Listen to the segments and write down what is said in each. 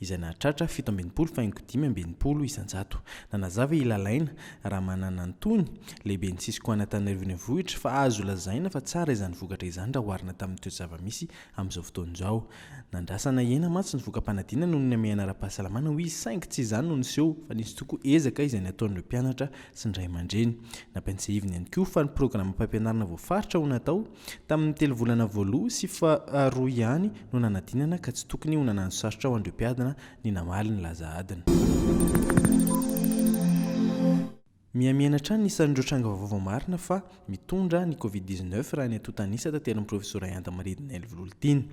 izay nahatratra fito amby enimpolo faingo dimy amby enimpolo isan-jato. Nanazava i Lalaina Ramananantony, lehiben'ny Cisco an'Antananarivo Renivohitra, fa azo lazaina fa tsara izany vokatra izany raha oharina tamin'ny toe-java-misy amin'izao fotoana izao. Nandrasa nahena mantsy ny voka-panadinana noho ny hamehana ara-pahasalamana, hoy izy, saingy tsy izany no niseho fa nisy tokoa ezaka izay nataon'ireo mpianatra sy ny ray aman-dreny. Nampiantsehiviny ihany koa fa ny programam-pampianarana voafaritra ho natao Tamin'ny telo volana voaloha sy faharoa ihany no nanadinana ka tsy tokony ho nanano sarotra ho an'ireo mpiadina ny namaly ny laza adina. Mihamihena hatrany ny isan'ireo tranga vaovao marina fa mitondra ny Covid dix neuf raha ny antontan'isa tanterin'ny Profesora Yanda Maridina Elivololitiana.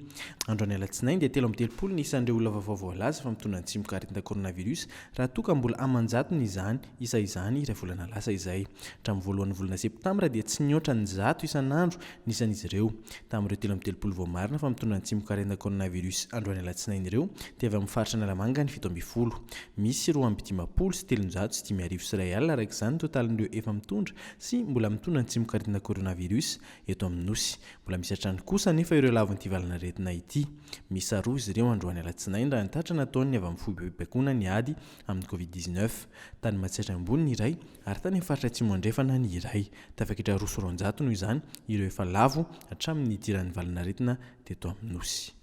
Androany alatsinainy dia telo amby telopolo ny isan'ireo olona vaovao voalaza fa mitondra ny tsimokaretin-da coronavirus raha toa ka mbola aman-jatony izany Isa izany iray volana lasa izay. Hatramin'ny voalohan'ny volana septambra dia tsy nihoatra ny zato isan'andro ny isan'izy ireo. Tamin'ireo telo amby telopolo vao marina fa mitondra ny tsimok'arenda coronavirus androany alatsinainy ireo dia avy amin'ny faritra Analamanga ny fito ambin'ny folo. Misy roa amby dimampolo sy telonjato sy dimy arivo sy iray alina araka izany ny totalin'ireo efa mitondra sy mbola mitondra ny tsimok'arenda coronavirus eto amin'ny Nosy. Mbola misy hatrany kosa anefa ireo lavon'ity valanaretina ity. Miisa roa izy ireo androany alatsinainy raha ny tatra nataon'ny avy amin'ny foibem-pibaikoana ny ady amin'ny Covid dix neuf. Tany Matsiatra Ambony ny iray ary tany amin'ny faritra Atsimo Andrefana ny iray. Tafaketra roa sy roanjato noho izany ireo efa lavo hatramin'ny nidiran'ny valan'aretina teto amin'ny Nosy.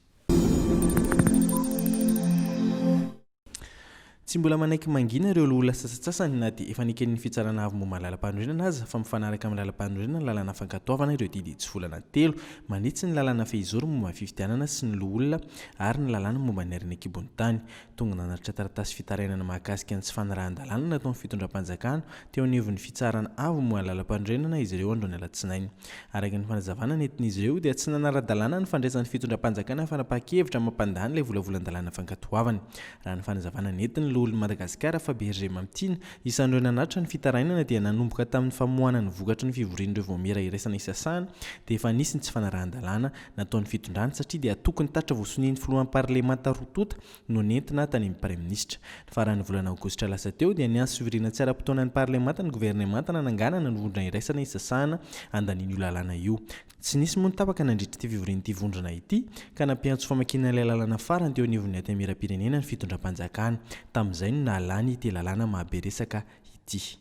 Tsy mbola manaiky mangina ireo loholona sasantsasany na dia efa neken'ny Fitsarana Avo momba ny Lalampanorenana aza fa mifanaraka amin'ny Lalampanorenana ny lalana fankatoavana ireo didy tsy volana telo manitsy ny lalàna fehizoro momba ny fifidianana sy ny loholona ary ny lalàna momba ny harena an-kibon'ny tany. Tonga nanatitra taratasy fitarainana mahakasika ny tsy fanarahan-dalàna nataon'ny fitondram-panjakana teo anivon'ny Fitsarana Avo moa lalam-panorenana izy ireo androany alatsinainy. Araka ny fanazavana nentin'izy ireo dia tsy nanara-dalàna ny fandraisan'ny fitondram-panjakana fanapahan-kevitra mampandany ilay volavolan-dalàna fankatoavana. Raha ny fanazavana nentin'ny Loholon'i Madagasikara Fabergé Mamitiana, isan'ireo nanatitra ny fitarainana dia nanomboka tamin'ny famoahana ny vokatry ny fivorian'ireo vaomiera iraisana isasahana dia efa nisy ny tsy fanarahan-dalàna nataon'ny fitondrany satria dia tokony tatra vao sonian'ny filohan'ny parlemanta roa tonta no nentina tany amin'ny praiminisitra. Ny faran'ny volana aogositra lasa teo dia niantso fivoriana tsy ara-potoana ny parlemanta ny governemanta nananganana ny vondrona iraisana hisasahana handaniana io lalàna io. Tsy nisy moa ny tapaka nandritra ity fivorian'ity vondrona ity ka nampiantso famakiana ilay lalàna farany teo anivon'ny Antemieram-pirenena ny fitondram-panjakana. Tamin'izay no nahalany ity lalàna mahabe resaka ity.